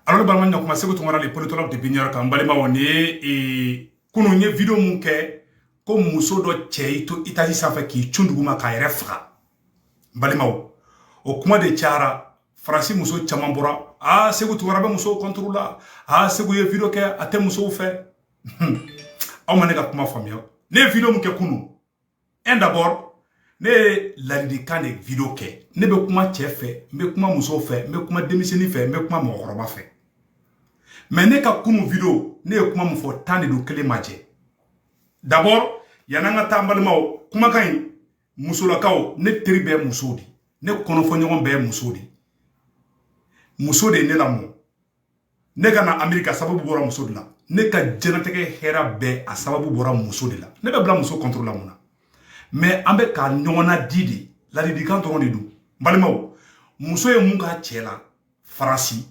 alo balima ɲɔgɔn kuma seku tunkara le politologue depuis new york an balimaw ni ye e, kunun ye video min kɛ ko muso dɔ cɛ y'i to etazi sanfɛ k'i cun duguma k'a yɛrɛ faga balimaw o kuma de cayara faransi muso caman bɔra aa seku tunkara bɛ musow contre la aa seku ye video kɛ a tɛ musow fɛ aw ma ne ka kuma faamuya ne ye video min kɛ kunun un d'abord ne ye ladilikan de video kɛ ne bɛ kuma cɛ fɛ n bɛ kuma musow fɛ n bɛ kuma denmisɛnnin fɛ n bɛ kuma mɔgɔkɔrɔba fɛ mais ne ka kunu video ne ye kuma min fɔ tan de don kelen ma jɛ d'abord yan'an ka taa an balimaw kumakan in musolakaw ne teri bɛɛ musow de ne kɔnɔfɔɲɔgɔn bɛɛ muso de muso de ye ne lamɔ ne ka na amerika sababu bɔra muso de la ne ka diɲɛnatigɛ hɛra bɛɛ a sababu bɔra muso de la ne bɛ bila muso contre la mun na mais an bɛ ka ɲɔgɔn ladi de ladilikan dɔrɔn de don balimaw muso ye mun k'a cɛ la faransi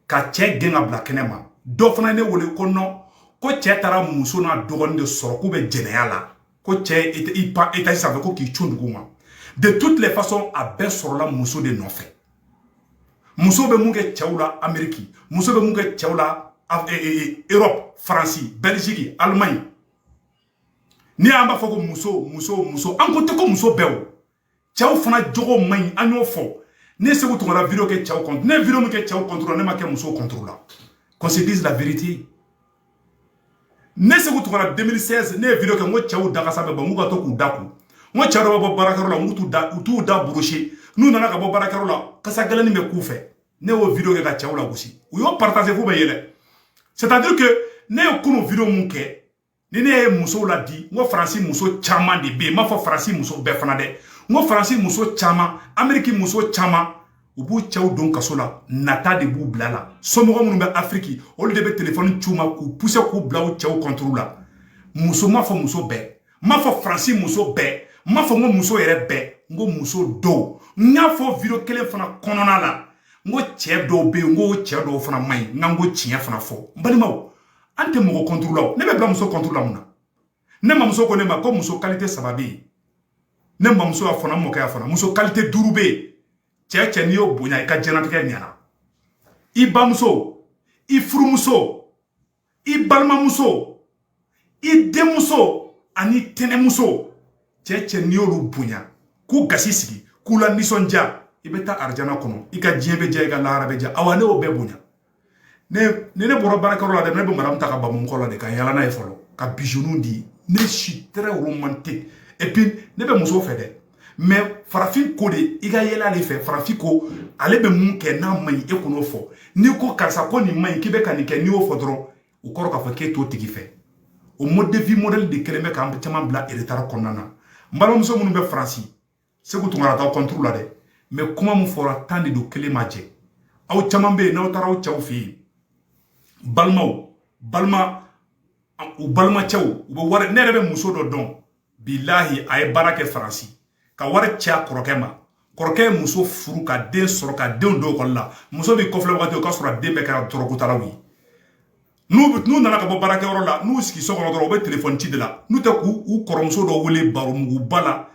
ka cɛ gɛn ka bila kɛnɛ ma dɔ fana ye ne wele ko non ko cɛ taara muso n'a dɔgɔnin de sɔrɔ k'u bɛ jɛnɛya la ko cɛ i pan etazi sanfɛ ko k'i cun dugu ma de toutes les façons a bɛɛ sɔrɔla muso de nɔfɛ muso bɛ mun kɛ cɛw la ameriki muso bɛ mun kɛ cɛw la europe eh, eh, eh, faransi belgiki allemagne ni an b'a fɔ ko muso muso muso a kɔrɔ tɛ ko muso bɛɛ o cɛw fana jogo man ɲi an y'o fɔ ne seku tunkara video kɛ cɛw contre ne video min kɛ cɛw contre ne ma kɛ musow contre la qu'on se dise la vérité ne seku tunkara 2016 ne ye video kɛ n ko cɛw dakasa bɛ bɔ n'u ka to k'u da ko n ko cɛw dɔ bɛ bɔ baarakɛyɔrɔ la n'u t'u da u t'u da brosser n'u nana ka bɔ baarakɛyɔrɔ la kasa gɛlɛnni bɛ k'u fɛ ne y'o video kɛ ka cɛw lagosi u y'o partager f'u bɛ yɛlɛ c'est à dire que ne ye kunu video min kɛ ni ne ye musow ladi n ko faransi muso caman de bɛ yen n m'a fɔ faransi muso bɛɛ fana dɛ n ko faransi muso caman ameriki muso caman u b'u cɛw don kaso la nata de b'u bila la somɔgɔ minnu bɛ afiriki olu de bɛ telefɔni ci u ma k'u pousser k'u bila u cɛw contre la muso n m'a fɔ muso bɛɛ n m'a fɔ faransi muso bɛɛ n m'a fɔ ko muso yɛrɛ bɛɛ n ko muso dɔw n y'a fɔ video kelen fana kɔnɔna la n ko cɛ dɔw bɛ yen n ko cɛ dɔw fana man ɲi n ka n ko tiɲɛ fana fɔ n balimaw an tɛ mɔgɔ contre la ne bɛ bila muso contre la mun na ne mamuso ko ne ma ko muso kalite saba bɛ yen ne mamuso y'a fɔ n mɔkɛ y'a fɔ muso kalite duuru bɛ yen cɛ cɛ n'i y'o bonya i ka diɲɛnatigɛ ɲɛna i bamuso i furumuso i balimamuso i denmuso ani tɛnɛmuso cɛ cɛ n'i y'olu bonya k'u gasi sigi k'u lanisɔndiya i bɛ taa arijana kɔnɔ i ka diɲɛ bɛ diya i ka lahara bɛ diya awa ne y'o bɛɛ bonya ne ni ne bɔra baarakɛyɔrɔ la dɛ ne bɛ madamu ta ka bamu kɔ la de ka yala n'a ye fɔlɔ ka bijouw di ne suis très romantique et puis ne bɛ muso fɛ dɛ mɛ farafin ko de i ka yɛlɛ ale fɛ farafin ko ale bɛ mun kɛ n'a man ɲi e kan'o fɔ n'i ko karisa ko nin man ɲi k'i bɛ ka nin kɛ n'i y'o fɔ dɔrɔn o kɔrɔ k'a fɔ k'e t'o tigi fɛ o mode de vie modèle de kɛlen bɛ k'an caman bila retard kɔnɔna na n balimamuso minnu bɛ faransi seku tunkara t'aw kɔnturu la dɛ mɛ kuma min fɔra tan de don kelen ma jɛ aw caman bɛ yen n'aw taara aw cɛw fɛ yen balimaw balima u balimacɛw u bɛ wari ne yɛrɛ bɛ muso dɔ dɔn bilahi a ye baara kɛ faransi ka wari ci a kɔrɔkɛ ma kɔrɔkɛ ye muso furu ka den sɔrɔ ka denw don ekɔli la muso b'i kɔfilɛ wagati o k'a sɔrɔ a den bɛɛ kɛra dɔrɔgutalaw ye n'u bɛ n'u nana ka bɔ baarakɛyɔrɔ la n'u sigi so kɔnɔ dɔrɔn u bɛ telefɔni ci de la n'u tɛ k'u kɔrɔmuso dɔ wele baro muguba la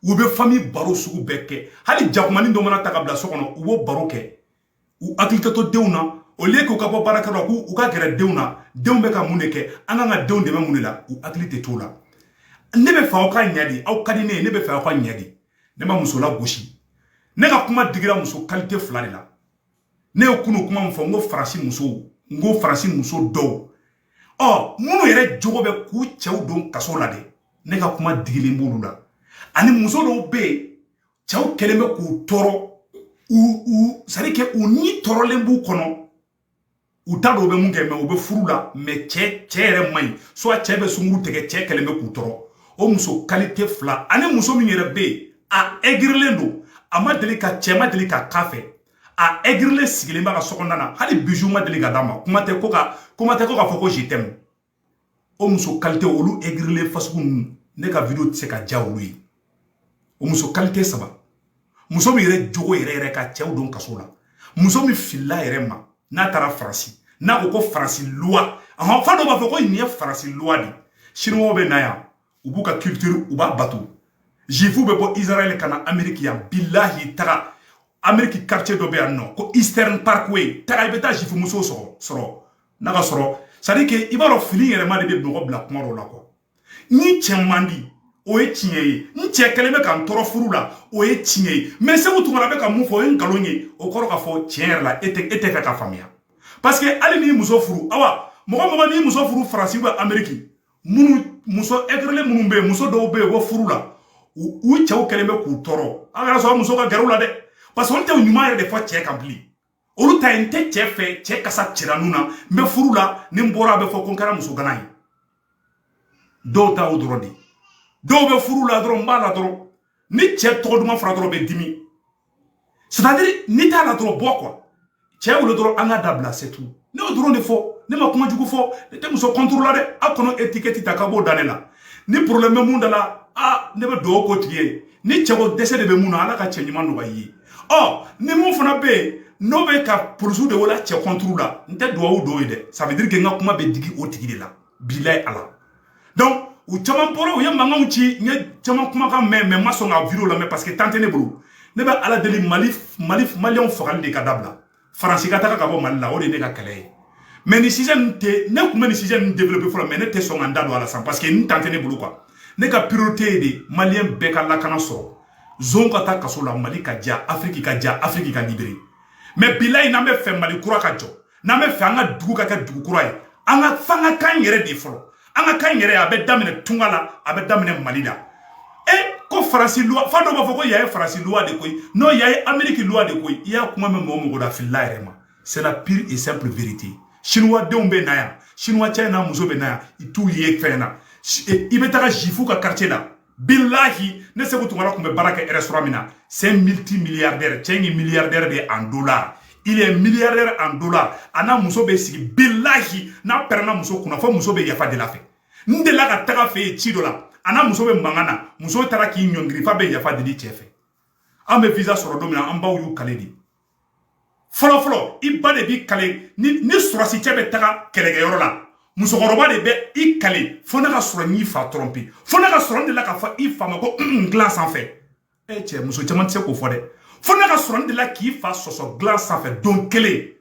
u bɛ fami baro sugu bɛɛ kɛ hali jakumani dɔ mana ta ka bila so kɔnɔ u b'o baro kɛ u hakili tɛ to denw na au lieu k'u ka bɔ baarakɛyɔrɔ la k'u ka gɛrɛ denw na denw bɛ ka mun de kɛ an kan ka denw dɛmɛ mun de la u hakili tɛ t'o la ne bɛ fɛ aw ka ɲɛ de aw ka di ne ye ne bɛ fɛ aw ka ɲɛ de ne ma muso lagosi ne ka kuma digira muso kalite fila de la ne ye kunu kuma min fɔ n ko faransi musow n ko faransi muso dɔw ɔ minnu yɛrɛ jogo bɛ k'u cɛw don kaso la dɛ ne ka kuma digilen b'olu la ani muso dɔw bɛ yen cɛw kɛlen bɛ k'u tɔɔrɔ u u c'est-à-dire que u ni tɔɔrɔlen b'u kɔnɔ u t'a dɔn u bɛ mun kɛ mɛ u bɛ furu la mɛ cɛ cɛ yɛrɛ man ɲi soit cɛ bɛ sungurun tigɛ cɛ kɛlen bɛ k'u tɔɔrɔ o muso kalite fila ani muso min yɛrɛ bɛ yen a ɛgirilen don a ma deli ka cɛ ma deli ka k'a fɛ a ɛgirilen sigilen b'a ka sokɔnɔna na hali biju ma deli ka d'a ma kuma tɛ ko k'a fɔ ko je t'aime o muso kalite olu egirilen fasugu ninnu ne ka video tɛ se ka diya olu ye o muso kalite saba muso min yɛrɛ jogo yɛrɛ yɛrɛ ka cɛw don kaso la muso min filila yɛrɛ ma n'a taara faransi n'a ko ko faransi luwa ahɔn fa dɔ b'a fɔ ko nin ye faransi luwa de ye siniwaw bɛ na yan u b'u ka culture u b'a bato jifu bɛ bɔ israel ka na ameriki yan bilahi taga ameriki quartier dɔ bɛ yan nɔ ko eastern parkway taga i bɛ taa jifu muso sɔrɔ sɔrɔ n'a ka sɔrɔ c'est-à-dire que i b'a dɔn fili yɛrɛma de bɛ mɔgɔ bila kuma dɔ la ko ne cɛ man di o ye tiɲɛ ye n cɛ kɛlen bɛ ka n tɔɔrɔ furu la o ye tiɲɛ ye mɛ seku tunkara bɛ ka mun fɔ o ye nkalon ye o kɔrɔ k'a fɔ tiɲɛ yɛrɛ la e tɛ e tɛ fɛ ka faamuya parce que hali n'i muso furu awa mɔgɔ mɔgɔ n'i muso furu faransi bɛ ameriki minnu muso egirilen minnu bɛ yen muso dɔw bɛ yen ko furu la u cɛw kɛlen bɛ k'u tɔɔrɔ aw kana sɔn o muso ka gɛrɛ aw la dɛ parce que olu tɛ ɲuman yɛrɛ de fɔ cɛ kan bilen olu ta ye n tɛ cɛ fɛ cɛ kasa cira n nun na n bɛ furu la ni n bɔra a bɛ fɔ ko n kɛra muso gana ye dɔw ta o dɔrɔn de dɔw bɛ furu la dɔrɔn n b'a la dɔrɔn ni cɛ tɔgɔ duman fɔra dɔrɔn bɛ dimi c'est-à-dire ni t'a la dɔrɔn bɔ quoi cɛ wele dɔrɔn an ka dabila c'est tout ne y'o dɔrɔn de fɔ ne ma kuma jugu fɔ ne tɛ muso contre la dɛ aw kana etikɛti ta ka b'o da ne la ni porobilɛmu bɛ mun da la a ne bɛ dugawu k'o tigi ye ni cɛko dɛsɛ de bɛ mun na ala ka cɛ ɲuman nɔgɔya i ye ɔ ni mun fana bɛ yen n'o bɛ ka polisiw de wele cɛ contre la n tɛ dugawu don i ye dɛ ça veut dire que n ka kuma bɛ digi o tigi de la bilayi ala donc u caman bɔra u ye mankanw ci n ye caman kumakan mɛn mais n ma sɔn ka video lamɛn parce que temps tɛ ne bolo ne bɛ ala deli mali mali maliyɛnw fagali de ka dabila faransi ka taga ka bɔ mali la o de ye ne ka kɛlɛ ye mais nin sujet nin tɛ ne tun bɛ nin sujet nin développer fɔlɔ mais ne tɛ sɔn ka n da don a la sisan parce que n temps tɛ ne bolo quoi ne ka priorité ye de maliyɛn bɛɛ ka lakana sɔrɔ zon ka taa kaso la mali ka diya afiriki ka diya afiriki ka libéré mais bilayi n'an bɛ fɛ mali kura ka jɔ n'an bɛ fɛ an ka dugu ka kɛ dugu kura ye an ka f'an ka kan yɛrɛ de fɔlɔ an ka kan yɛrɛ a bɛ daminɛ tunga la a bɛ daminɛ mali la e ko faransi luwa f'a dɔw b'a fɔ ko yan ye faransi luwa de koyi non yan ye ameriki luwa de koyi i y'a kuma mɛn mɔgɔ mɔgɔ la filila yɛrɛ ma c'est la pure et simple vérité sinuwa denw bɛ na yan sinuwa cɛ n'a muso bɛ na yan i t'u ye fɛn na i bɛ taga jifu ka quartier la bilahi ne seku tunkara kun bɛ baara kɛ restaurant min na c'est multi milliardaire cɛ nin ye milliardaire de ye en dollar il est milliardaire en dollar a n'a muso bɛ sigi bilahi n'a pɛrɛnna muso kunna fo muso bɛ yafa deli a fɛ n delila ka tag'a fɛ yen ci dɔ la a n'a muso bɛ mankan na muso taara k'i ɲɔngiri f'a bɛ yafa deli cɛ fɛ an bɛ visa sɔrɔ don min na an baw y'u kale di fɔlɔ fɔlɔ i ba de b'i kale ni ni sɔrɔsi cɛ bɛ taga kɛlɛkɛyɔrɔ la musokɔrɔba de bɛ i kale fo ne ka sɔrɔ n y'i fa tɔrɔmpi fo ne ka sɔrɔ n delila k'a fɔ i fa ma ko un un dilan sanfɛ e cɛ muso caman tɛ se k'o fɔ dɛ fo ne ka sɔrɔ n delila k'i fa sɔsɔ dilan sanfɛ don kelen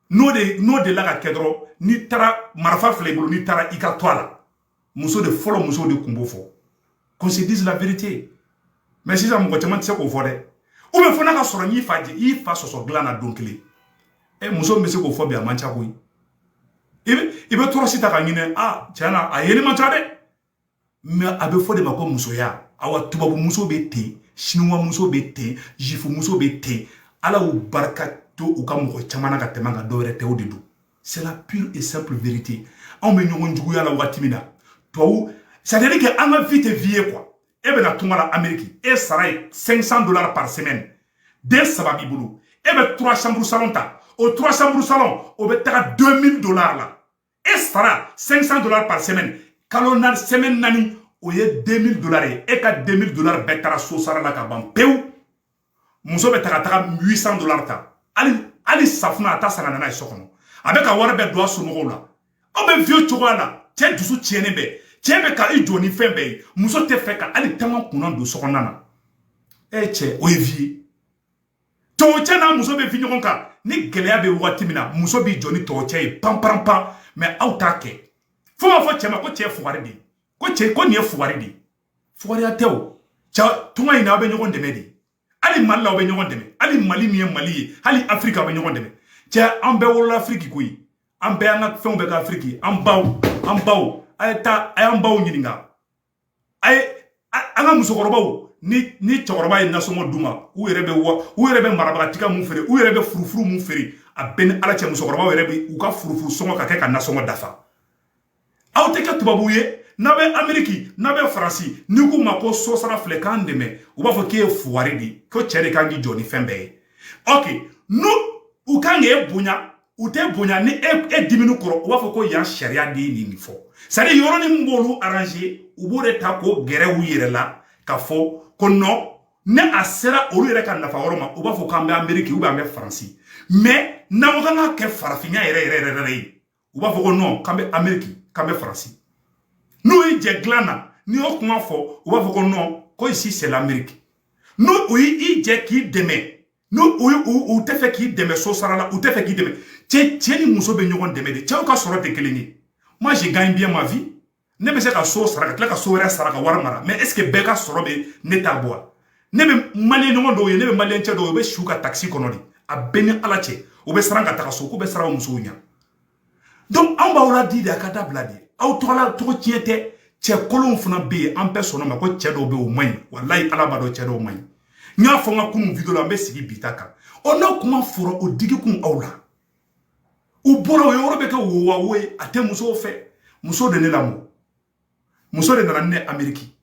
n'o de n'o delila ka kɛ dɔrɔn n'i taara marifa filɛ i bolo n'i taara i ka to a la muso de fɔlɔ muso de kun b'o fɔ qu'on se dise la vérité mais sisan mɔgɔ caman tɛ se k'o fɔ dɛ ou bien fo n'a ka sɔrɔ n y'i fa jɛ i fa sɔsɔ dilan na don kelen ɛ muso min bɛ se k'o fɔ bi a man ca koyi i bɛ i bɛ tɔɔrɔsi ta k'a ɲini a tiɲɛ na a yeli man ca dɛ mais a bɛ fɔ de ma ko musoya awa tubabu muso bɛ ten siniwa muso bɛ ten jifu muso bɛ ten ala y'u barika to u ka mɔgɔ caman na ka tɛmɛ an kan dɔwɛrɛ tɛ o de don c'est la pure et simple vérité anw bɛ ɲɔgɔn juguya la waati min na tubabu c'est à dire que an ka vie tɛ vie ye quoi e bɛ na tunga la ameriki e sara ye 500 dollars par semaine den saba b'i bolo e bɛ 3 chambre salon ta o 3 chambre salon o bɛ taga 2000 dollars la e sara 500 dollars par semaine kalo na semaine naani o ye 2000 dollars ye e ka 2000 dollars bɛɛ taara so sara la ka ban pewu muso bɛ taga taga 800 dollars ta hali hali safunɛ a t'a san ka na n'a ye so kɔnɔ a b'a ka wari bɛɛ don a somɔgɔw la o bɛ vie cogoya la cɛ dusu tiɲɛnen bɛ cɛ bɛ ka i jɔ ni fɛn bɛɛ ye muso tɛ fɛ ka hali tama kunna don so kɔnɔna na e cɛ o ye vie ye tɔw cɛ n'a muso bɛ fi ɲɔgɔn kan ni gɛlɛya bɛ waati min na muso b'i jɔ ni tɔw cɛ ye pan pan pan mɛ aw t'a kɛ fo b'a fɔ cɛ ma ko cɛ fugari de ko cɛ ko nin ye fugari de fugariya tɛ o cɛ tunga in na aw bɛ ɲɔgɔn dɛmɛ de hali mali la aw bɛ ɲɔgɔn dɛmɛ hali mali min ye mali ye hali afiriki aw bɛ ɲɔgɔn dɛmɛ cɛ an bɛɛ wolola afiriki koyi an bɛɛ an ka fɛnw bɛɛ ka afiriki an baw an baw a ye taa a y'an baw ɲininka a ye an ka musokɔrɔbaw ni ni cɛkɔrɔba ye nasɔngɔ d'u ma u yɛrɛ bɛ wa u yɛrɛ bɛ marabatiga mun feere u yɛrɛ bɛ furufuru mun feere a bɛ n ni ala cɛ musokɔrɔbaw yɛrɛ bɛ u ka furufuru sɔngɔ ka kɛ ka nasɔngɔ dafa aw tɛ kɛ tubabuw ye n'a bɛ ameriki n'a bɛ faransi n'i k'u ma ko so sara filɛ k'an dɛmɛ u b'a fɔ k'e ye fuwari de ye ko cɛ de kan k'i jɔ ni fɛn bɛɛ ye ɔke n'u u kan k'e bonya u t'e bonya ni e e dimina u kɔrɔ u b'a fɔ ko yan sariya de ye nin fɔ sariya yɔrɔnin min b'olu aranze u b'o de ta k'o gɛrɛ u yɛrɛ la ka fɔ ko nɔn ni a sera olu yɛrɛ ka nafa yɔrɔ ma u b'a fɔ k'an bɛ ameriki ou bien an bɛ faransi mɛ n'an ko k'an k'a kɛ farafinya yɛrɛ yɛrɛ yɛrɛ yɛrɛ ye u b'a fɔ ko nɔn k'an bɛ ameriki k'an bɛ faransi n'u y'i jɛ dilan na n'i y'o kuma fɔ u b'a fɔ ko nɔn ko ici c'est l'amérique n'u u y'i jɛ k'i dɛmɛ n'u u u tɛ fɛ k'i dɛmɛ so sara la u tɛ fɛ k'i dɛmɛ cɛ cɛ ni muso bɛ ɲɔgɔn dɛmɛ de cɛw ka sɔrɔ tɛ kelen ye moi je gagne bien ma vie ne bɛ se ka so sara ka tila ka so wɛrɛ sara ka wari mara mais est ce que bɛɛ ka sɔrɔ bɛ ne ta bɔ wa ne bɛ maliyɛn ɲɔgɔn dɔw ye ne bɛ maliyɛn cɛ dɔw ye u bɛ si u ka takisi kɔnɔ de a bɛ ne ni ala cɛ u bɛ siran ka taga so k'u bɛ siran u musow ɲɛ donc anw b'aw laadi de a k'a dabila de aw tɔgɔla tɔgɔtiɲɛ tɛ cɛ kolonw fana bɛ yen an bɛɛ sɔnna o ma ko cɛ dɔw bɛ yen u man ɲi walayi ala b'a dɔn cɛ dɔw man ɲi n y'a fɔ n ka kunun video la an bɛ sigi bi ta kan ɔ n'aw kuma fɔra o digi kun aw la u bɔra o yɔrɔ bɛ kɛ wowawo ye a tɛ musow fɛ muso de ne lamɔ muso de nana ni n ye ameriki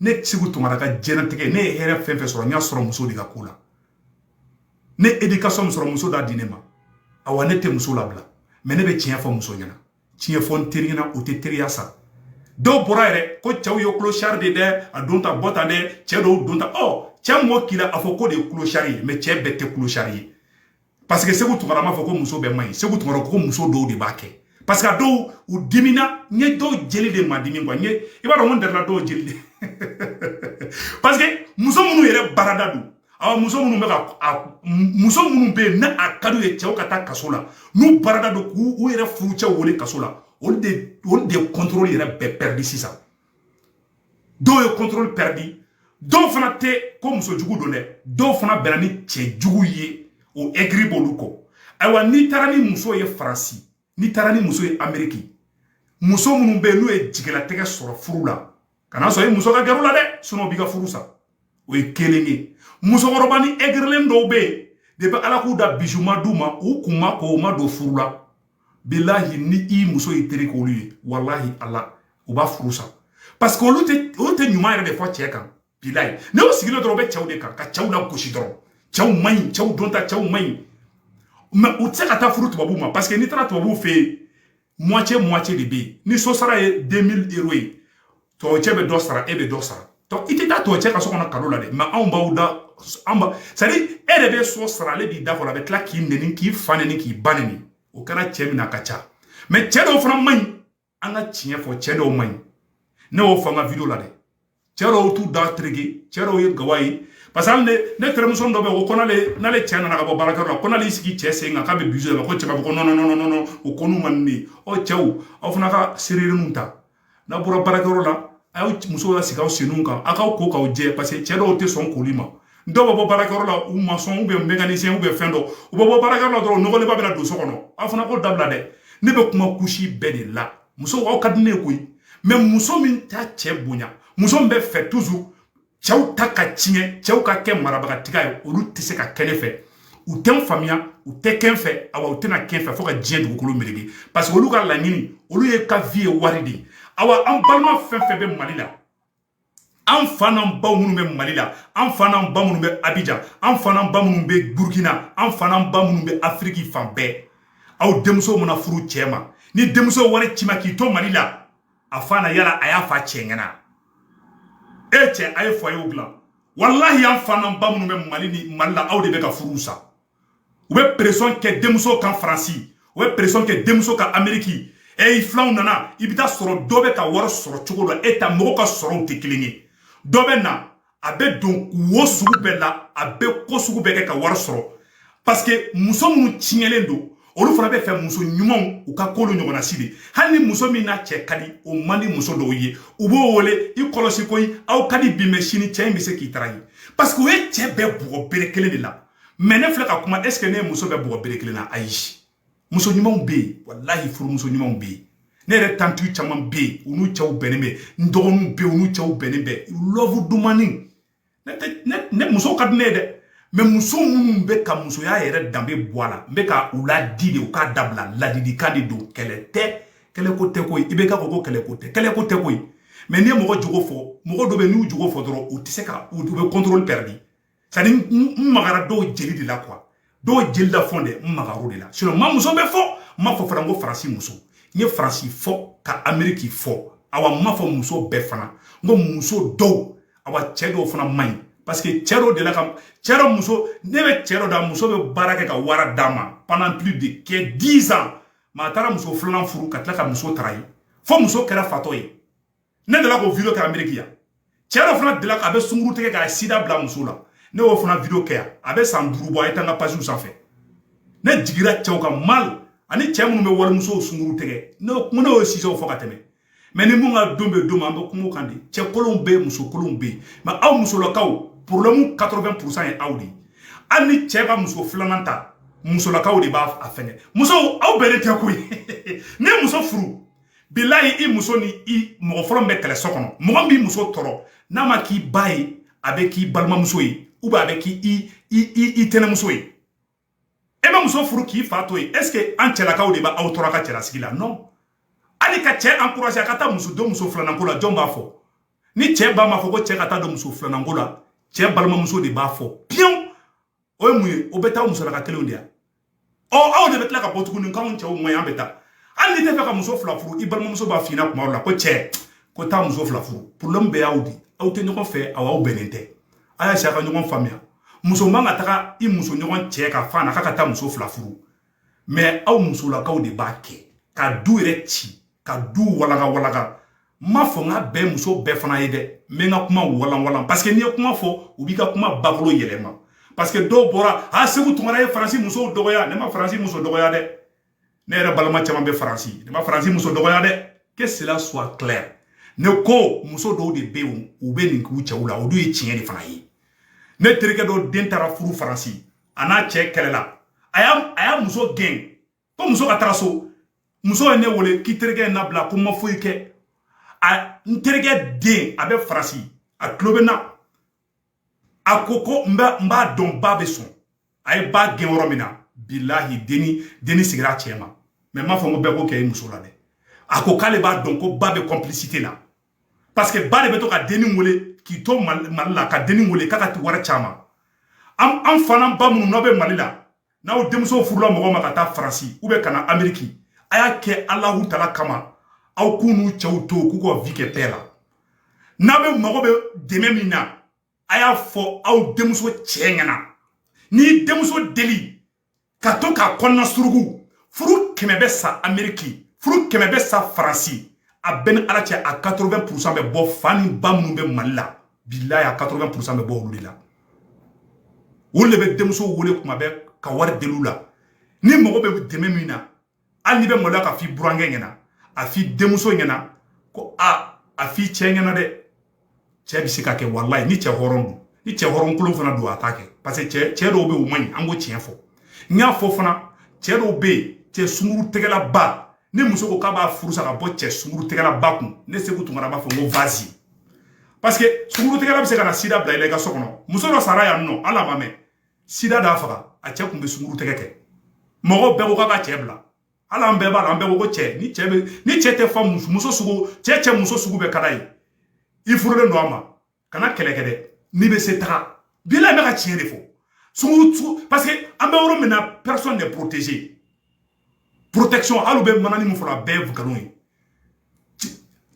ne seku tunkara ka diɲɛlatigɛ ne ye hɛrɛ fɛn fɛn sɔrɔ n y'a sɔrɔ muso de ka ko la ne edikasɔn min sɔrɔ muso d'a di ne ma awa ne tɛ muso labila mɛ ne bɛ tiɲɛ fɔ muso ɲɛna tiɲɛ fɔ n teri ɲɛna o tɛ teriya sa dɔw bɔra yɛrɛ ko cɛw ye kulosari de dɛ a don ta bɔ ta dɛ cɛ dɔw don ta ɔ cɛ mɔgɔ k'i la a fɔ k'o de ye kulosari ye mɛ cɛ bɛɛ tɛ kulosari ye parce que seku tunkara m'a fɔ ko muso bɛɛ man ɲi seku tunkara ko muso dɔw de b'a kɛ parce que a dɔw u dimina n ye dɔw jeli de ma dimi quoi n ye i b'a dɔn ko n darila dɔw jeli de parce que muso minnu yɛrɛ baarada don awa muso minnu bɛ ka muso minnu bɛ yen ni a ka d'u ye cɛw ka taa kaso la n'u baarada don k'u u yɛrɛ furucɛw wele kaso la olu de olu de contrôle yɛrɛ bɛɛ perdu sisan dɔw ye contrôle perdu dɔw fana tɛ ko muso jugu don dɛ dɔw fana bɛnna ni cɛ jugu ye o aigri b'olu kɔ ayiwa n'i taara ni muso ye faransi n'i taara ni muso ye ameriki muso minnu bɛ yen n'u ye jigilatigɛ sɔrɔ furu la kana sɔn i muso ka gɛrɛ u la dɛ sinon b'i ka furu sa o ye kelen ye musokɔrɔbanin aigrilen dɔw bɛ yen depuis ala k'u da bisou ma d'u ma u kun ma ko u ma don furu la bilahi ni i muso y'i teri k'olu ye walahi ala u b'a furu sa parce que olu tɛ olu tɛ ɲuman yɛrɛ de fɔ cɛ kan bilahi ni u sigilen dɔrɔn u bɛ cɛw de kan ka cɛw lagosi dɔrɔn cɛw man ɲi cɛw don tan cɛw man ɲi mais u tɛ se ka taa furu tubabuw ma parce que n'i taara tubabuw fɛ yen moitié moitié de bɛ yen ni so sara ye 2000 euros ye tubabucɛ bɛ dɔ sara e bɛ dɔ sara donc i tɛ taa tubabucɛ ka so kɔnɔ cadeau la dɛ mais anw bada an ba c'est à dire e de bɛ so sara ale b'i da fu la a bɛ tila k'i neni k'i fa neni k'i ba neni o kɛra cɛ min na a ka ca mais cɛ dɔw fana man ɲi an ka tiɲɛ fɔ cɛ dɔw man ɲi ne y'o fɔ an ka video la dɛ cɛ dɔw t'u da tereke cɛ dɔw ye gawa ye parce que ne terimuso dɔ bɛ yen o ko n'ale n'ale cɛ nana ka bɔ baarakɛyɔrɔ la ko n'ale y'i sigi cɛ sen kan k'a bɛ bisou la ko cɛ b'a fɔ ko non non non o ko n'u ma nin de ɔ cɛw aw fana ka seererinw ta n'a bɔra baarakɛyɔrɔ la a y'aw musow lasigi aw senw kan aw k'aw ko k'aw jɛ parce que cɛ dɔw tɛ sɔn koli ma dɔw bɛ bɔ baarakɛyɔrɔ la u maçon u bɛ mécanicien u bɛ fɛn dɔ u bɛ bɔ baarakɛyɔrɔ la dɔrɔn nɔgɔlenba bɛ na don so kɔnɔ aw fana k'o dabila dɛ ne bɛ kuma couche bɛɛ de la musow aw ka di ne ye koyi mais muso min t'a cɛ bonya muso min bɛ fɛ toujours cɛw ta ka tiɲɛ cɛw ka kɛ marabagatiga ye olu tɛ se ka kɛ ne fɛ u tɛ n faamuya u tɛ kɛ n fɛ awa u tɛna kɛ n fɛ fo ka diɲɛ dugukolo melege parce que olu ka laɲini olu ye ka vie ye wari de ye awa an balima fɛn fɛn bɛ mali la an fa n'an baw minnu bɛ mali la an fa n'an ba minnu bɛ abijan an fa n'an ba minnu bɛ burukina an fa n'an ba minnu bɛ afiriki fan bɛɛ aw denmuso mana furu cɛ ma ni denmuso wari ci ma k'i to mali la a fa na yala a y'a fa cɛ ɲɛna e cɛ a ye foyer dilan walahi an fa n'an ba minnu bɛ mali ni mali la aw de bɛ ka furu sa u bɛ pression kɛ denmuso kan faransi u bɛ pression kɛ denmuso kan ameriki ɛ i filanw nana i bɛ t'a sɔrɔ dɔ bɛ ka wari sɔrɔ cogo dɔ e ta mɔgɔw ka sɔrɔw tɛ kelen ye dɔ bɛ na a bɛ don wo sugu bɛɛ la a bɛ ko sugu bɛɛ kɛ ka wari sɔrɔ parce que muso minnu tiɲɛlen don olu fana bɛ fɛ muso ɲumanw u ka k'olu ɲɔgɔnna si de hali ni muso min n'a cɛ ka di o man di muso dɔw ye u b'o wele i kɔlɔsi koyi aw ka di bi mais sini cɛ in bɛ se k'i trahir parce que u ye cɛ bɛɛ bugɔ bere kelen de la mɛ ne filɛ ka kuma est ce que ne ye muso bɛɛ bugɔ bere kelen na ayi muso ɲumanw bɛ yen walahi furumuso ɲumanw bɛ yen ne yɛrɛ tanti caman bɛ yen u n'u cɛw bɛnnen bɛ n dɔgɔninw bɛ yen u n'u cɛw bɛnnen bɛ lɔvu dumani ne tɛ ne ne musow ka di ne ye dɛ mɛ muso minnu bɛ ka musoya yɛrɛ danbe bɔ a la n bɛ ka u ladi de u k'a dabila ladilikan de don kɛlɛ tɛ kɛlɛko tɛ koyi i bɛ ka fɔ ko kɛlɛko tɛ kɛlɛko tɛ koyi mɛ n'i ye mɔgɔ jogo fɔ mɔgɔ dɔ bɛ n'u jogo fɔ dɔrɔn u tɛ se ka u bɛ contrôle perdre sani n magara dɔw jeli de la kuwa dɔw jeli la fɔ dɛ n magara o de la sinɔn n ma muso bɛɛ fɔ n m'a fɔ fana ko faransi muso n ye faransi fɔ ka ameriki fɔ awa n m'a fɔ muso bɛɛ fana n ko muso dɔw awa cɛɛ dɔw fana man ɲi parce que cɛɛ dɔw dela ka cɛɛ dɔ muso ne bɛ cɛɛ dɔ dɔn a muso bɛ baara kɛ ka wari d'a ma pendant plus de kɛ 10 ans mɛ a taara muso filanan furu ka tila ka muso trahir fo muso kɛra fatɔ ye ne delila k'o video kɛ ameriki yan cɛ dɔ fana delila k'a bɛ sunguru tigɛ k'a sida bila muso la ne y'o fana video kɛ yan a bɛ san duuru bɔ a ye taa n ka page sanfɛ ne jigira cɛw kan mal ani cɛ minnu bɛ walimusow sunguru tigɛ ne ko ne y'o sujetw fɔ ka tɛmɛ mɛ ni mun ka don bɛ don ma an bɛ kuma o kan de cɛ kolonw bɛ yen muso kolonw bɛ yen mɛ aw musolakaw problème 80 pourcent ye aw de ye hali ni cɛ ka muso filanan ta musolakaw de b'a fɛngɛ musow aw bɛnnen tɛ koyi ne muso furu bilayi i muso ni i mɔgɔ fɔlɔ min bɛ kɛlɛ so kɔnɔ mɔgɔ min b'i muso tɔɔrɔ n'a ma k'i ba ye a bɛ k'i balimamuso ye ou bien a bɛ k'i i i i i tɛnɛmuso ye e bɛ muso furu k'i fa to yen est ce que an cɛlakaw de b'aw tɔɔrɔ ka cɛlasigi la non hali ka cɛ encouragé a ka taa muso don muso filananko la jɔn b'a fɔ ni cɛ ba m'a fɔ ko cɛ ka taa don muso filananko la cɛ balimamuso de b'a fɔ piyewu o ye mun ye o bɛɛ t'aw musolaka kelenw de ya ɔ aw de bɛ tila ka bɔ tuguni k'anw cɛw man ɲi an bɛ taa hali n'i tɛ fɛ ka muso fila furu i balimamuso b'a f'i ɲɛna kuma dɔ la ko cɛ ko taa muso fila furu problème bɛɛ y'aw de aw tɛ ɲɔgɔn fɛ aw aw bɛnnen tɛ a y'a essayer a ka ɲɔgɔn faamuya muso man ka taga i muso ɲɔgɔn cɛ ka f'a ɲɛna k'a ka taa muso fila furu mɛ aw musolakaw de b'a kɛ ka du yɛrɛ ci ka du walaga walaga n m'a fɔ n k'a bɛɛ muso bɛɛ fana ye dɛ n bɛ n ka kuma walanwalan parce que n'i ye kuma fɔ u b'i ka kuma bakolo yɛlɛma parce que dɔw bɔra a seku tunkara ye faransi musow dɔgɔya ne ma faransi muso dɔgɔya dɛ ne yɛrɛ balima caman bɛ faransi ne ma faransi muso dɔgɔya dɛ que cela soit clair ne ko muso dɔw de bɛ yen u bɛ nin k'u cɛw la o dun ye tiɲɛ de fana ye ne terikɛ dɔ den taara furu faransi a n'a cɛ kɛlɛla a y'a a y'a muso gɛn ko muso ka taga so muso ye ne wele k'i terikɛ ye n nabila ko n ma foyi kɛ a n terikɛ den a bɛ faransi a tulo bɛ n na a ko ko n bɛ n b'a dɔn ba bɛ sɔn a ye ba gɛn yɔrɔ min na bilahi denni denni sigira a cɛ ma mɛ n m'a fɔ n ko bɛɛ k'o kɛ i muso la dɛ a ko k'ale b'a dɔn ko ba bɛ complicité la parce que ba de bɛ to ka denni wele k'i to mali la ka denni wele k'a ka ti wari caman an an fana ba minnu n'aw bɛ mali la n'aw denmuso furula mɔgɔ ma ka taa faransi ou bien ka na ameriki a y'a kɛ alahu tala kama aw k'u n'u cɛw to k'u ka vie kɛ paix la n'a bɛ mago bɛ dɛmɛ min na a y'a fɔ aw denmuso cɛ ɲɛna n'i denmuso deli ka to k'a kɔnɔna suruku furu kɛmɛ bɛ sa ameriki furu kɛmɛ bɛ sa faransi a bɛ n ni ala cɛ a 80 pourcent bɛ bɔ fa ni ba minnu bɛ mali la bilayi a 80 pourcent bɛ bɔ olu de la olu de bɛ denmuso wele kuma bɛɛ ka wari deli u la ni mago bɛ dɛmɛ min na hali n'i bɛ maloya k'a f'i burankɛ ɲɛna a f'i denmuso ɲɛna ko a a f'i cɛ ɲɛna dɛ cɛ bɛ se k'a kɛ walayi ni cɛ hɔrɔn don ni cɛ hɔrɔn kolon fana don a t'a kɛ parce que cɛ cɛ dɔw bɛ yen u man ɲi an k'o tiɲɛ fɔ n y'a fɔ fana cɛ dɔw bɛ yen cɛ sunguru tɛgɛla ba ni muso ko k'a b'a furu sa ka bɔ cɛ sunguru tɛgɛla ba kun ne segu tunkara b'a fɔ n ko vas-y parce que sunguru tɛgɛla bɛ se ka na sida bila i la i ka so kɔnɔ muso dɔ sara yan nɔ hali a ma mɛɛn sida d'a faga a cɛ kun bɛ sunguru tɛgɛ kɛ mɔgɔw bɛɛ ko k'a ka cɛ bila hali an bɛɛ b'a la an bɛɛ ko ko cɛ ni cɛ bɛ ni cɛ tɛ fa muso sugu cɛ cɛ muso sugu bɛɛ ka d'a ye i furulen don a ma kana kɛlɛ kɛ dɛ n'i bɛ se taga bilayi n bɛ ka tiɲɛ de fɔ sunguru parce que an bɛ yɔrɔ min na personne n'est protégé protection hali u bɛ manani min fɔra a bɛɛ ye nkalon ye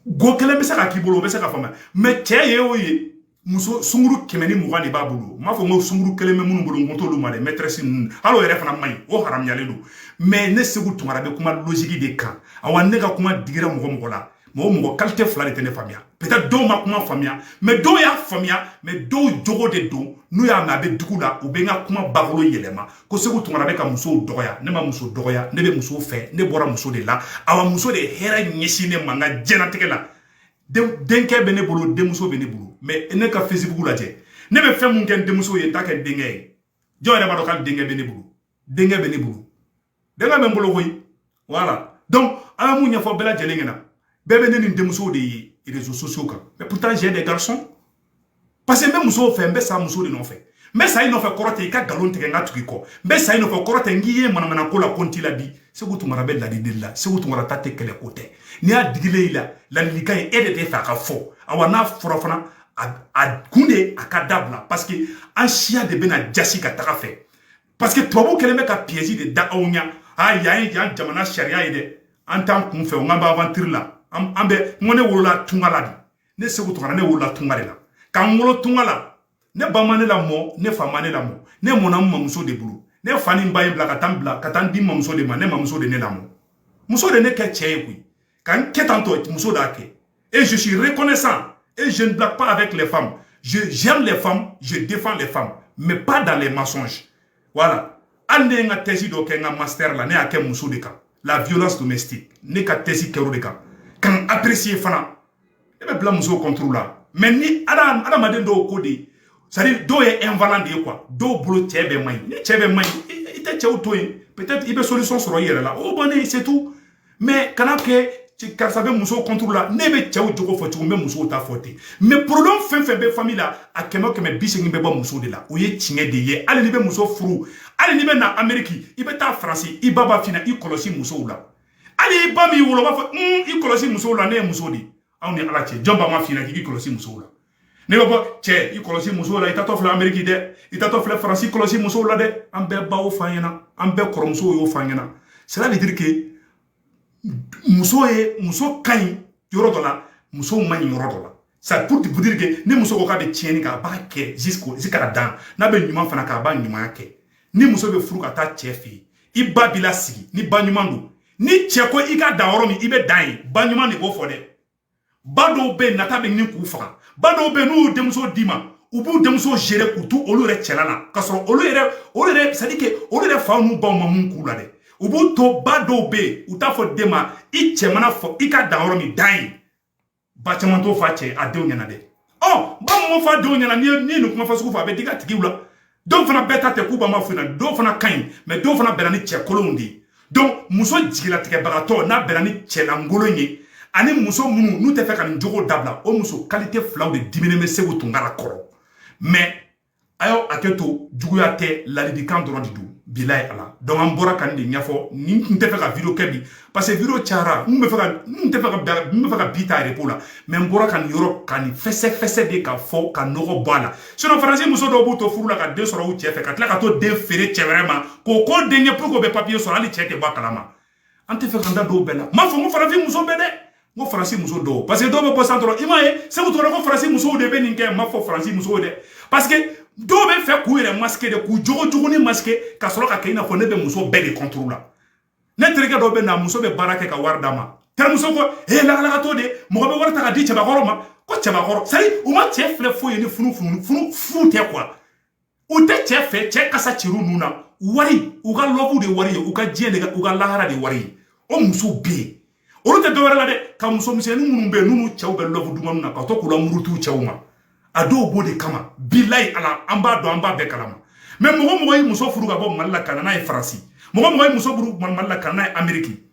go kelen bɛ se ka k'i bolo o bɛ se ka faamuya mais cɛ ye o ye muso sunguru kɛmɛ ni mugan de b'a bolo n m'a fɔ n ko sunguru kelen bɛ minnu bolo n ko t'olu ma dɛ maîtresse ninnu hali o yɛrɛ fana man ɲi o haramuyalen don mais ne segu tunkara bɛ kuma logique de kan awa ne ka kuma digira mɔgɔ mɔgɔ la mɔgɔ mɔgɔ qualité fila de tɛ ne faamuya peut-être dɔw ma kuma faamuya mais dɔw y'a faamuya mais dɔw jogo de don n'u y'a mɛn a bɛ digi u la u bɛ n ka kuma bakolo yɛlɛma ko segu tunkara bɛ ka musow dɔgɔya ne ma muso dɔgɔya ne bɛ muso fɛ ne bɔra muso de la awa muso de hɛrɛ ɲɛsin ne ma n ka jɛnatigɛ la denkɛ bɛ ne bolo denmuso bɛ ne bolo mais ne ka facebook lajɛ ne bɛ fɛn min kɛ n denmuso ye n t'a kɛ denkɛ ye jɔn yɛrɛ b'a dɔn ko hali denkɛ bɛ ne bolo denkɛ bɛ ne bolo denkɛ bɛ n bolo koyi voilà donc an ye mun ɲɛfɔ bɛɛ lajɛlen ɲɛna bɛɛ bɛ ne ni denmuso de ye réseaux sociaux kan mais pourtant j'ai des garçons parce que n bɛ musow fɛ n bɛ sa muso de nɔfɛ n bɛ sa i nɔfɛ kɔrɔ tɛ i ka nkalon tigɛ n ka tugu i kɔ n bɛ sa i nɔfɛ kɔrɔ tɛ n k'i ye manamana ko la ko n t'i ladi segu tunkara bɛ ladili la segu tunkara ta tɛ kɛlɛ ko tɛ n'i y'a digilen i la ladilikan ye e de t'a fɛ a ka fɔ awa n'a fɔra fana a kun de a ka dabila parce que an siya de bɛna jasi ka taga a fɛ parce que tubabu kɛlen bɛ ka piège de da anw ɲa a yan ye yan jamana sariya ye dɛ an t'an kun fɛ o n'an bɛ aventure la an bɛ n ko ne wolola tunga la de ne segu tunkara ne wolola tunga de la ka n wolo tunga la ne ba ma ne lamɔ ne fa ma ne lamɔ ne mɔna n mamuso de bolo ne fa ni n ba ye bila ka taa n bila ka taa n di n mamuso de ma ne mamuso de ne lamɔ muso de ne kɛ cɛ ye koyi ka n kɛ tan tɔ muso d'a kɛ et je suis reconnaissant et je ne blague pas avec les femmes je j'aime les femmes je défends les femmes mais pas dans les mensonges voilà hali ne ye n ka thèse dɔ kɛ n ka master la ne y'a kɛ muso de kan la violence domestique ne ka thèse kɛr'o de kan ka n apprécier fana e bɛ bila musow contre la mais ni adamaden dɔw ko de c'est à dire dɔw ye ɛnfalan de ye quoi dɔw bolo cɛ bɛɛ man ɲi ni cɛ bɛɛ man ɲi i tɛ cɛw to yen peut-être i bɛ solution sɔrɔ i yɛrɛ la o bannen c'est tout mais kana kɛ karisa bɛ musow contre la ne bɛ cɛw jogo fɔ cogo n bɛ musow ta fɔ ten mais problème fɛn fɛn bɛ famille la a kɛmɛ o kɛmɛ bi segin bɛ bɔ muso de la o ye tiɲɛ de ye hali n'i bɛ muso furu hali n'i bɛ na ameriki i bɛ taa faransi i ba b'a f'i ɲɛna i kɔlɔsi musow la hali i ba min wolo b'a fɔ i kɔlɔsi musow la ne ye muso de ye anw ni ala cɛ jɔn ba ma f'i ɲɛna k'i kɔlɔsi musow la n'i bɛ bɔ cɛ i kɔlɔsi musow la i taatɔ filɛ ameriki dɛ i taatɔ filɛ faransi i kɔlɔsi musow la dɛ an bɛɛ baw f'an ɲɛna an bɛɛ kɔrɔmusow y'o f'an ɲɛna cela veut dire que muso ye muso ka ɲi yɔrɔ dɔ la musow man ɲi yɔrɔ dɔ la ça pour te dire que ni muso ko k'a bɛ tiɲɛni kɛ a b'a kɛ jusqu'au jusqu'à dan n'a bɛ ɲuman fana k'a b'a ɲumanya kɛ ni muso bɛ furu ka taa cɛ fɛ yen i ba b'i lasigi ni ba ɲuman don ni cɛ ko i ka dan yɔrɔ min i bɛ dan yen ba ɲuman de b'o fɔ dɛ ba dɔw bɛ yen nata bɛ ɲini k'u faga ba dɔw bɛ yen n'u y'u denmuso d'i ma u b'u denmuso gere k'u to olu yɛrɛ cɛla la k'a sɔrɔ olu yɛrɛ olu yɛrɛ c'est à dire que olu yɛrɛ faw n'u baw ma mun k'u la dɛ u b'u to ba dɔw bɛ yen u t'a fɔ den ma i cɛ mana fɔ i ka dan yɔrɔ min dan yen ba caman t'o f'a cɛ a denw ɲɛna dɛ ɔ ba m'o f'a denw ɲɛna n'i ye n'i ye nin kuma fasugu fɔ a bɛ digi a tigiw la dɔw fana bɛɛ ta tɛ k'u ba m'a f'u ɲɛna dɔw fana ka ɲi mais dɔw fana bɛnna ni cɛ kolonw de ye donc muso jigilatigɛbagatɔ n'a bɛnna ni cɛlankolon ye ani muso minnu n'u tɛ fɛ ka nin jogo dabila o muso kalite filaw de diminen bɛ segu tunkara kɔrɔ mais a y'o hakɛ to juguya tɛ ladilikan dɔrɔn de don bilayi ala donc an bɔra ka nin de ɲɛfɔ ne tun tɛ fɛ ka video kɛ bi parce que video cayara n bɛ fɛ ka n tɛ fɛ ka n bɛ fɛ ka bi ta repos la mais n bɔra ka nin yɔrɔ ka nin fɛsɛfɛsɛ de ka fɔ ka nɔgɔ bɔ a la sinon faransi muso dɔw b'u to furu la ka den sɔrɔ u cɛ fɛ ka tila ka t'o den feere cɛ wɛrɛ ma k'o k'o den ye pour que o bɛ papiye sɔrɔ hali cɛ tɛ bɔ a kalama an tɛ fɛ k'an da don bɛɛ la n m'a fɔ ko faransi muso bɛɛ dɛ n ko faransi muso dɔw parce que dɔw bɛ bɔ san dɔrɔn i m'a ye segu tunkara ko faransi musow de bɛ nin kɛ n m'a fɔ faransi musow dɛ parce que dɔw bɛ fɛ k'u yɛrɛ masquer de k'u jogo juguni masquer ka sɔrɔ ka kɛ i n'a fɔ ne bɛ muso bɛɛ de contre la ne terikɛ dɔ bɛ n'a muso bɛ baara kɛ ka wari d'a ma terimuso ko ee lagalagatɔ de mɔgɔ bɛ wari ta ka di cɛbakɔrɔ ma ko cɛbakɔrɔ c'est à dire u ma cɛ filɛ foyi ye ni funu funu funu fu tɛ quoi u tɛ cɛ fɛ cɛ kasa cir'u nun na wari u ka love de wari ye u ka diɲɛ de u ka lahara de wari ye o musow bɛ yen olu tɛ dɔwɛrɛ la dɛ ka muso misɛnnin minnu bɛ yen n'u cɛw bɛ love dumannin na ka to k'u lamuruti cɛw ma a dɔw b'o de kama bilayi ala an b'a dɔn an b'a bɛɛ kalama mais mɔgɔ o mɔgɔ ye muso furu ka bɔ mali la ka na n'a ye faransi mɔgɔ o mɔgɔ ye muso furu mali la ka na n'a ye ameriki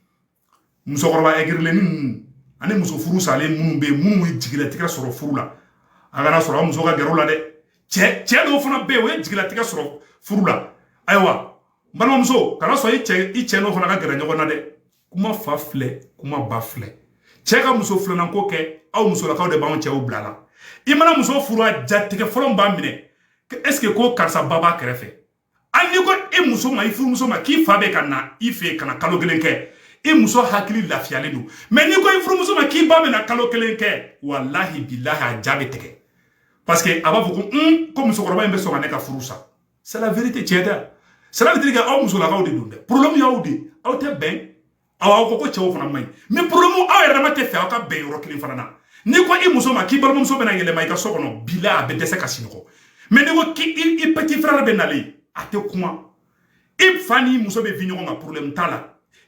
musokɔrɔba ɛgirilen ninnu ani muso furu salen minnu bɛ yen minnu ye jigilatigɛ sɔrɔ furu la a kana sɔn a muso ka gɛrɛ u la dɛ cɛ cɛ dɔw fana bɛ yen o ye jigilatigɛ sɔrɔ furu la ayiwa balimamuso kana sɔn i cɛ i cɛ n'o fana ka gɛrɛ ɲɔgɔn na dɛ kuma fa filɛ kuma ba filɛ cɛ ka muso filanan ko kɛ aw musolakaw de b'anw cɛw bila la i mana muso furu a jatigɛ fɔlɔ b'a minɛ est ce que ko karisa ba b'a kɛrɛfɛ hali n'i ko e muso ma i furumuso ma k'i fa bɛ ka na i fɛ ka na kalo kelen kɛ i muso hakili lafiyalen don mais n'i ko i furumuso ma k'i ba bɛ na kalo kelen kɛ walahi bilahi a ja bɛ tigɛ parce que a b'a fɔ ko un ko musokɔrɔba in bɛ sɔn ka ne ka furu sa c'est la vérité tiɲɛ tɛ cela veut dire que aw musolakaw de don dɛ problème y'aw de aw tɛ bɛn aw ko ko cɛw fana man ɲi mɛ porobilɛmu aw yɛrɛ dama tɛ fɛ aw ka bɛn yɔrɔ kelen fana na n'i ko i muso ma k'i balimamuso bɛna yɛlɛma i ka so kɔnɔ bila a bɛ dɛsɛ ka sinɔgɔ mɛ n'i ko k'i i petit frère bɛ nalen a tɛ kuma i fa ni muso bɛ vi ɲɔgɔn kan porobilɛmu t'a la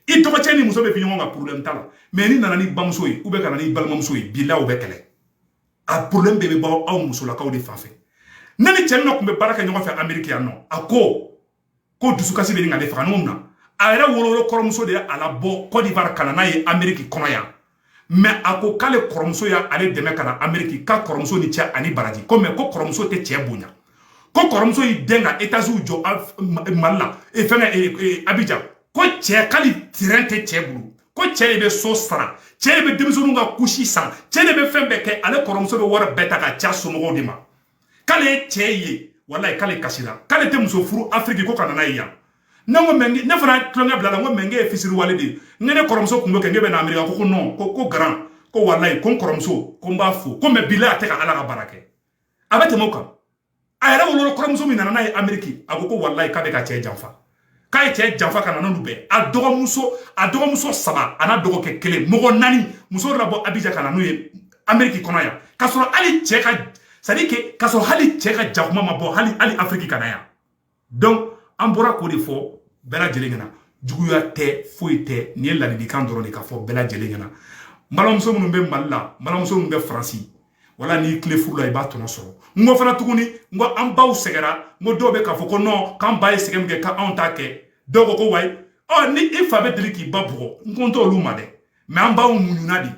i dɔgɔcɛ ni muso bɛ vi ɲɔgɔn kan porobilɛmu t'a la mɛ n'i nana n'i bamuso ye ou bien ka na n'i balimamuso ye bila o bɛ kɛlɛ a porobilɛmu bɛɛ bɛ bɔ aw musolakaw de fan fɛ ne ni cɛ dɔ tun bɛ baara kɛ ɲɔgɔn fɛ ameriki yan nɔ a ko ko dusukasi bɛ ɲini ka ne faga n'o na a yɛrɛ wolowolo kɔrɔmuso de ye a labɔ Côte d'Ivoire ka na n'a ye Amérique kɔnɔ yan mais a ko k'ale kɔrɔmuso y'ale dɛmɛ ka na Amérique k'a kɔrɔmuso ni ce ani baraji ko mais ko kɔrɔmuso tɛ cɛ bonya ko kɔrɔmuso y'i den ka étages jɔ Mali la e fɛngɛ e, e, Abidjan ko cɛ k'hali terrain tɛ cɛ bolo ko cɛ de bɛ so sara cɛ de bɛ denmisɛnninw ka couche san cɛ de bɛ fɛn bɛɛ kɛ ale kɔrɔmuso bɛ wari bɛɛ ta k'a c'a somɔgɔw de ma k'ale ye cɛ ye walayi k'ale kasira k'ale tɛ muso furu afiriki ko ka na n'a ye yan ne ko mɛ ne fana tulonkɛ bil'a la n ko mɛ n ye fisiriwale de ye n ne kɔrɔmuso kun bɛ kɛ ne bɛ na amerika ko ko non ko ko garan ko walayi ko n kɔrɔmuso ko n b'a fo ko mɛ bila a tɛ ka ala ka baara kɛ a bɛ tɛmɛ o kan a yɛrɛ wolo kɔrɔmuso min nana n'a ye ameriki a ko ko walayi k'a bɛ ka cɛ janfa k'a ye cɛ janfa ka na n'olu bɛɛ a dɔgɔmuso a dɔgɔmuso saba a n'a dɔgɔkɛ kelen mɔgɔ naani muso dɔ labɔ Abidjan ka na n'u ye ameriki kɔnɔ yan k'a sɔrɔ hali cɛ ka c'est-à-dire que k'a sɔrɔ hali cɛ ka jakuma ma bɔ hali hali afiriki ka na yan donc an bɔra k'o de fɔ bɛɛ lajɛlen ɲɛna juguya tɛ foyi tɛ nin ye ladilikan dɔrɔn de ka fɔ bɛɛ lajɛlen ɲɛna n balimamuso minnu bɛ mali la n balimamuso minnu bɛ faransi wala n'i tilen furu la i b'a tɔnɔ sɔrɔ n ko fana tuguni n ko an baw sɛgɛra n ko dɔw bɛ k'a fɔ ko nɔn k'an ba ye sɛgɛn min kɛ k'anw t'a kɛ dɔw ko ko wayi ɔ ni i fa bɛ deli k'i ba bugɔ n ko n t'olu ma dɛ mɛ an baw muɲuna de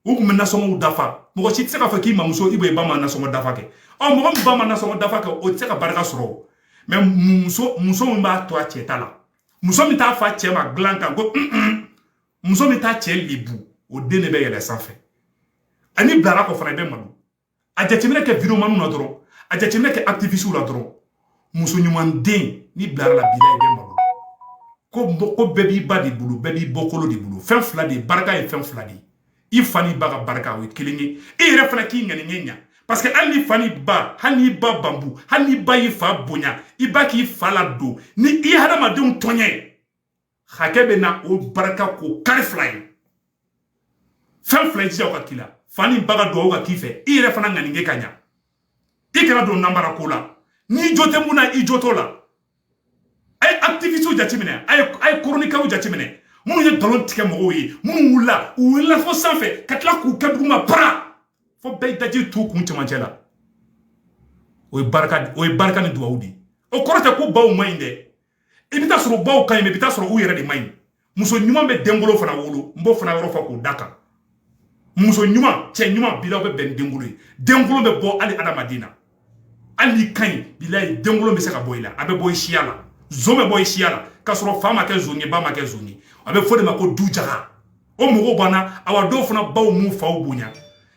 u tun bɛ nasɔngɔw dafa mɔgɔ si tɛ se k'a fɔ k'i mamuso i bɛ i ba ma nasɔngɔ dafa kɛ ɔ mɔgɔ min ba ma nasɔngɔ dafa kɛ o tɛ se ka barika sɔrɔ o mɛ muso muso min b'a to a cɛ ta la muso min t'a fa cɛ ma dilan kan ko un un muso min t'a cɛ lebu o den de bɛ yɛlɛ sanfɛ a n'i bilara a kɔ fana i bɛ malo a jateminɛ kɛ videomaniw na dɔrɔn a jateminɛ kɛ activistew la dɔrɔn muso ɲuman den n'i bilara a la bilayi i bɛ malo ko ko bɛɛ b'i ba de bolo bɛɛ b'i bɔkolo de bolo fɛn fila de ye barika ye fɛn fila de ye i fa n'i ba ka barika o ye kelen ye e yɛrɛ fana k'i ŋaniɲɛ ɲa parce que hali n'i fa n'i ba hali n'i ba bambu hali n'i ba y'i fa bonya i ba k'i fa ladon ni i hadamadenw tɔɲɛ hakɛ bɛ na o barika kɔ kari bilayi fɛn fila i jija o ka k'i la fa n'i ba ka dugawu ka k'i fɛ i yɛrɛ fana ŋaninge ka ɲa i kana don nanbara ko la n'i jo tɛ mun na i jo t'o la a ye activistew jateminɛ a ye chroniqueurw jateminɛ minnu ye nkalon tigɛ mɔgɔw ye minnu wulila u wulila fo sanfɛ ka tila k'u kɛ duguma bara fo bɛɛ y'i daji t'u kun cɛmancɛ la o ye barika o ye barika ni dugawu de ye o kɔrɔ tɛ ko baw man ɲi dɛ i bɛ taa sɔrɔ baw ka ɲi mais i bɛ taa sɔrɔ u yɛrɛ de man ɲi muso ɲuman bɛ denkolon fana wolo n b'o fana yɔrɔ fɔ k'o da a kan muso ɲuman cɛ ɲuman bilayi u bɛ bɛn denkolon ye denkolon bɛ bɔ hali adamaden na hali n'i ka ɲi bilayi denkolon bɛ se ka bɔ i la a bɛ bɔ i siya la zon bɛ bɔ i siya la k'a sɔrɔ fa ma kɛ zon ye ba ma kɛ zon ye a bɛ f'o de ma ko du jaga o mɔgɔw banna awa dɔw fana baw m'u faw bonya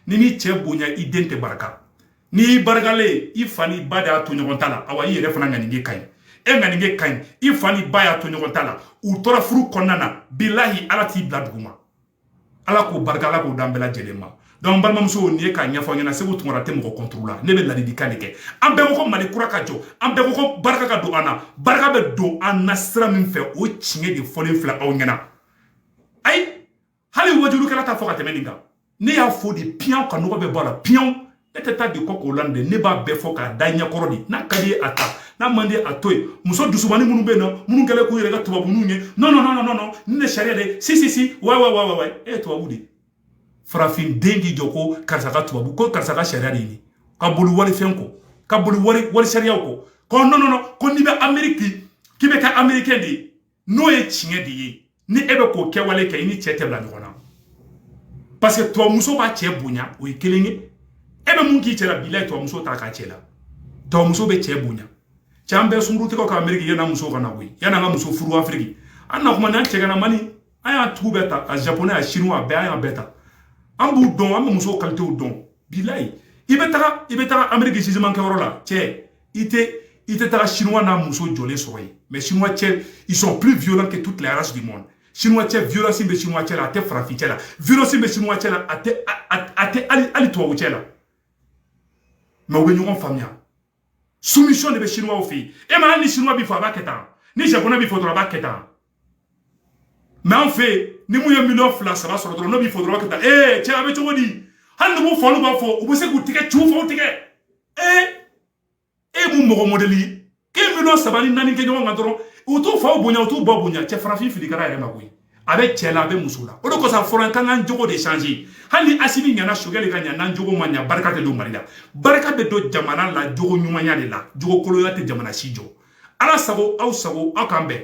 n'i m'i cɛ bonya i den tɛ barika n'i y'i barikalen ye i fa n'i ba de y'a to ɲɔgɔn ta la awa i yɛrɛ fana ŋaninge ka ɲi e ŋaninge ka ɲi i fa n'i ba y'a to ɲɔgɔn ta la u tora furu kɔnɔna na bilahi ala t'i bila duguma ala k'o barika ala k'o d'an bɛɛ lajɛlen ma donc balimamusow nin ye k'a ɲɛfɔ aw ɲɛna seku tunkara tɛ mɔgɔ contre la ne bɛ ladilikan de kɛ an bɛɛ ko ko mali kura ka jɔ an bɛɛ ko ko barika ka don an na barika bɛ don an na sira min fɛ o tiɲɛ de fɔlen filɛ aw ɲɛna ayi hali wajulikɛla t'a fɔ ka tɛmɛ nin kan ne y'a fɔ de piyan k'a nɔgɔ bɛɛ bɔ a la piyan ne tɛ taa de kɔ k'o la dɛ ne b'a bɛɛ fɔ k'a d'aw ɲɛ kɔrɔ de n'a ka d'i ye a ta n'a man di a to yen muso dusubani minnu bɛ yen nɔ minnu kɛlen k'u yɛrɛ kɛ tubabuninw ye non non non non non nin de sariya de si si si wa wa wa wa wa e ye tubabu de ye farafin den k'i jɔ ko karisa ka tubabu ko karisa ka sariya de ye nin ka boli walifɛn kɔ ka boli wali wali sariyaw kɔ ko non non non ko n'i bɛ ameriki k'i bɛ kɛ amerikɛn de ye n'o ye tiɲɛ de ye ni e bɛ k'o kɛwale kɛ i ni cɛ tɛ bila ɲɔgɔn na parce que tubabumuso b'a cɛ bonya o ye kelen ye e bɛ mun k'i cɛ la bilayi tubabumuso t'a k'a cɛ la tubabumuso bɛ cɛ bonya cɛ an bɛ sungurutigɛw kɛ ameriki yann'an muso ka na bɔ yen yann'an ka muso furu afiriki an na kuma n'an cɛ kana mani an y'a tubabu ta a japonais a chinois a bɛɛ an y'a bɛɛ ta an b'u dɔn an bɛ musow kalitew dɔn bilayi i bɛ taga i bɛ taga ameriki jugement kɛyɔrɔ la cɛ i tɛ i tɛ taga chinois n'a muso jɔlen sɔrɔ yen mais chinois cɛ ils sont plus violents que toutes les races du monde chinois cɛ violence bɛ chinois cɛ la a tɛ farafin cɛ la violence bɛ chinois cɛ la a tɛ a tɛ hali hali tubabu cɛ la mais u bɛ ɲɔgɔn faamuya soumission de bɛ chinoisw fɛ yen e ma hali ni chinois b'i fo a b'a kɛ tan ni japonais b'i fo dɔrɔn a b'a kɛ tan mɛ an fɛ yen ni mun ye miliyɔn fila saba sɔrɔ dɔrɔn n'o b'i fo dɔrɔn ka taa ee cɛ a bɛ cogo di hali n'u b'u fa n'u ba fo u bɛ se k'u tigɛ ci u fa tigɛ ee e mun mɔgɔ mɔdɛli ye k'e miliyɔn saba ni naani kɛ ɲɔgɔn kan dɔrɔn u t'u faw bonya u t'u ba bonya cɛ farafin filikara yɛrɛ ma koyi a bɛ cɛ la a bɛ muso la o de kosɔn a fɔra an ka an jogo de change hali ni asimi ɲana sogɛli ka ɲa n'an jogo ma ɲa barika tɛ don mali la barika bɛ don jamana la jogo ɲumanya de la jogo koloya tɛ jamana si jɔ ala sago aw sago aw k'an bɛn